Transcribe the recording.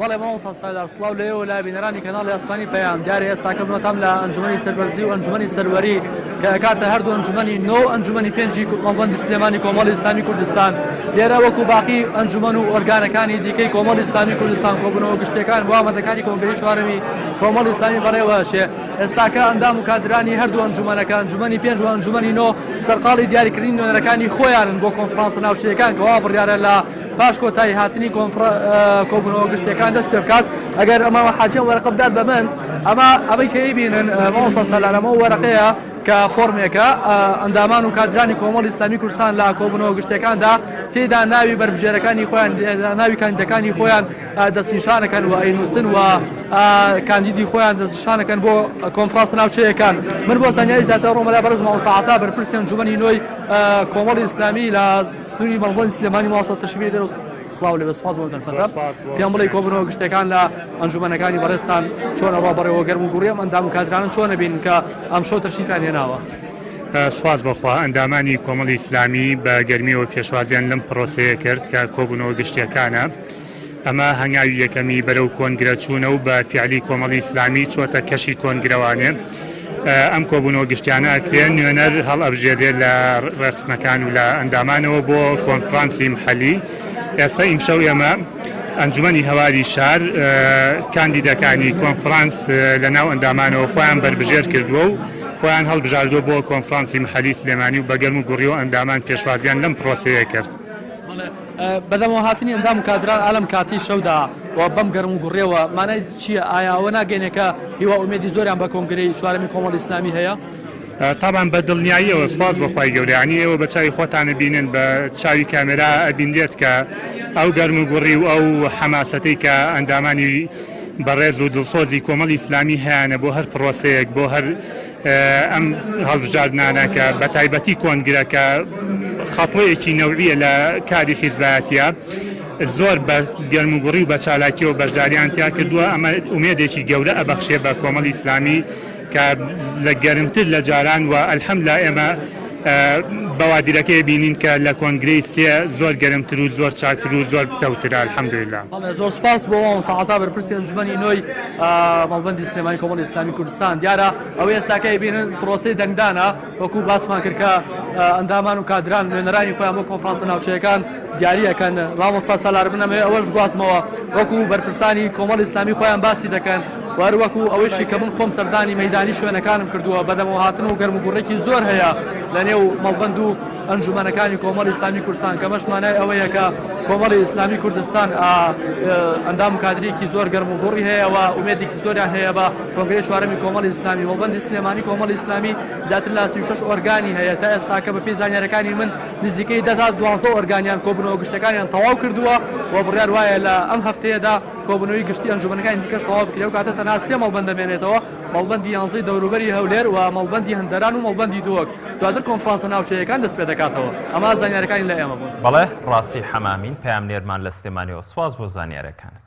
بەڵێ مامۆستا سالار سڵاو لێ و لا بینەرانی کەناڵی ئاسمانی پەیام دیارە ئێستاکەمەتام لە ئەنجومی سەربەرزی و ئەنجومی سەروەری کە کاتە هەردوو ئەنجومی نۆ ئەنجومی پێنجی کوردمەڵبندی سلێمانی کۆمەڵی ئسلامی کوردستان لێرە وەکو باقی ئەنجومەن و ئۆرگانەکانی دیکەی کۆمەڵی ئسلامی کوردستان کۆبنەوە گشتەکان وامەتەکانی کۆنگری چوارەوی کۆمەڵی ئسلامی بەڕێوەشێ ئێستاکە ئەندام و کادرانی هەردوو ئەنجومەنەکە ئەنجومی پێنج و ئەنجومی نۆ سەرقاڵی دیاریکردنی نوێنەرەکانی خۆیانن بۆ کۆنفرانسە ناوچەکان کەوا بڕیاە لە پاش کۆتایی هاتنی کۆبوونەوە گشتیەکان دەست پێ بکات ئەگەر ئەمە حاجیان وەرەقە بدات بە من ئەمە ئەمەی کەی بینن مامۆستا سالار ئەمە وەرەقەیە کە فۆرمێکە ئەندامان و کادرانی کۆمەڵی ئیسلامی کوردستان لە کۆبوونەوە گشتیەکاندا تێدا ناوی بەربژێرەکانی خۆیان ناوی کاندیدەکانی خۆیان دەستنیشانەکەن و ئەینوسن و کاندیدی خۆیان دەستنیشانەکەن بۆ کۆنفرانس ناوچەیەکان من بۆ زانیاری زیاتر ڕۆمەلا بەرز مامۆستا عەتا بەرپرسی ئەنجومەنی نۆی کۆمەڵی ئیسلامی لە سنوری مەڵبەند سلێمانی ماوەسە تەشریفی دەرەوە سڵاو لەبێ سپاس بۆ دەرفەتە پێم بڵێ کۆبنەوە گشتەکان لە ئەنجومەنەکانی بەڕێستان چۆنە ڕۆ بەڕێوە گەرم و گوڕیم ئەندام و کادرانن چۆنە بین کە ئەم شۆ تەشریفیان هێناوە سپاس بەخوا ئەندامانی کۆمەڵی ئیسلامی بە گەرمیەوە پێشوازیان لەم پرۆسەیە کرد کە کۆبوونەوە گشتیەکانە. ئەمە هەنگاوی یەکەمی بەرەو کۆنگرە چوونە و بە فیعلی کۆمەڵی ئیسلامی چۆتە کەشی کۆنگرەوانێ. ئەم کۆبوونەوە گشتیانە ئەکرێ نوێنەر هەڵئەبژێرێ لە ڕێخستنەکان و لە ئەندامانەوە بۆ کۆنفڕانسی محەلی. ئێستا ئیمشەو ئێمە ئەنجومەنی هەواری شار کاندیدەکانی کۆنفڕانس لە ناو ئەندامانەوە خۆیان بەربژێر کردووە و خۆیان هەڵبژاردووە بۆ کۆنفڕانسی محەلی سلێمانی و بە گەرم و گوڕیەوە ئەندامان پێشوازیان لەم پڕۆسەیە کرد. بەدەمەوە هاتنی ئەندام و کادران ئالەم کاتی شەودا و بەم گەرم و گوڕیەوە مانای چیە؟ ئایا ئەوە ناگەینێ کە هیوا ئومێدی زۆریان بە کۆنگرەی چوارەمی کۆمەڵی ئیسلامی هەیە؟ تابان بە دڵنیاییەوە سوپاس بۆ خوای گەورە یانی ئێوە بە چاوی خۆتان ئەبینن بە چاوی کامێرا ئەبینرێت کە ئەو گەرم و گوڕی و ئەو حەماسەتەی کە ئەندامانی بەڕێز و دڵسۆزی کۆمەڵی ئیسلامی هەیانە بۆ هەر پڕۆسەیەک بۆ هەر ئەم هەڵبژاردنانە کە بە تایبەتی کۆنگرە کە خەتۆیەکی نەوعیە لە کاری حیزبایەتە زۆر بە گەرموگوڕی و بە چالاکیەوە بەشداریان تیا کردووە ئەمە ئومێدێکی گەورە ئەبەخشێ بە کۆمەڵی ئیسلامی کە لە گەرمتر لە جاران و ئەلحەم لا ئێمە بوادرەکەی بینین کە لە کۆنگرەی سێ زۆر گەرمتر و زۆر چاکتر و زۆر پتەوترە الحمدللە. بەڵێ زۆر سوپاس بۆ مامۆستا عەتا بەرپرسی ئەنجومەنی نۆی مەڵبەندی سلێمانی کۆمەڵی ئیسلامی کوردستان دیارە ئەوەی ئێستاکە ئەیبینن پرۆسەی دەنگدانە وەکو باسمان کرد کە ئەندامان و کادران نوێنەرانی خۆیان بۆ کۆنفرانسە ناوچەیەکان دیاری ئەکەن مامۆستا سالار من ئەمەوێ ئەوەش بگوازمەوە وەکو بەرپرسانی کۆمەڵی ئیسلامی خۆیان باسی دەکەن هەروەکو ئەوەیشی کە من خۆم سەردانی مەیدانی شوێنەکانم کردووە بەدەمەوە هاتن و گەرموگوڕێکی زۆر هەیە لە نێو مەڵبەند و ئەنجومەنەکانی کۆمەڵی ئیسلامی کوردستان کەمەش مانای ئەوەیە کە کۆمەڵی ئیسلامی کوردستان ئەندام کادرێکی زۆر گەرم و گوڕی هەیە و ئومێدێکی زۆریان هەیە بە کۆنگری چوارەمی کۆمەڵی ئیسلامی مەڵبەندی سلێمانی کۆمەڵی ئیسلامی زیاتر لە سی و شەش ئۆرگانی هەیە تا ئێستاکە بەپێی زانیارەکانی من نزیکەی دە تا دوازدە ئۆرگانیان کۆبوونەوە گشتەکانیان تەواو کردووە و بڕیار وایە لە ئەم هەفتەیەدا کۆبوونەوەی گشتی ئەنجومەنەکانی دیکەش تەواو بکرێ و کاتە تەنها سێ مەڵبەند دەمێنێتەوە مەڵبەندی یانزەی دەوروبەری هەولێر و مەڵبەندی هەندەران و مەڵبەندی دووەک دواتر کۆنفرانسە ناوچەیەکان دەست پێ دەکاتەوە ئەمە زانیارەکانی لە ئێمە بوون. بەڵێ ڕاستی حەمامین پەیامنێرمان لە سلێمانیەوە سوپاس بۆ زانیارەکانت.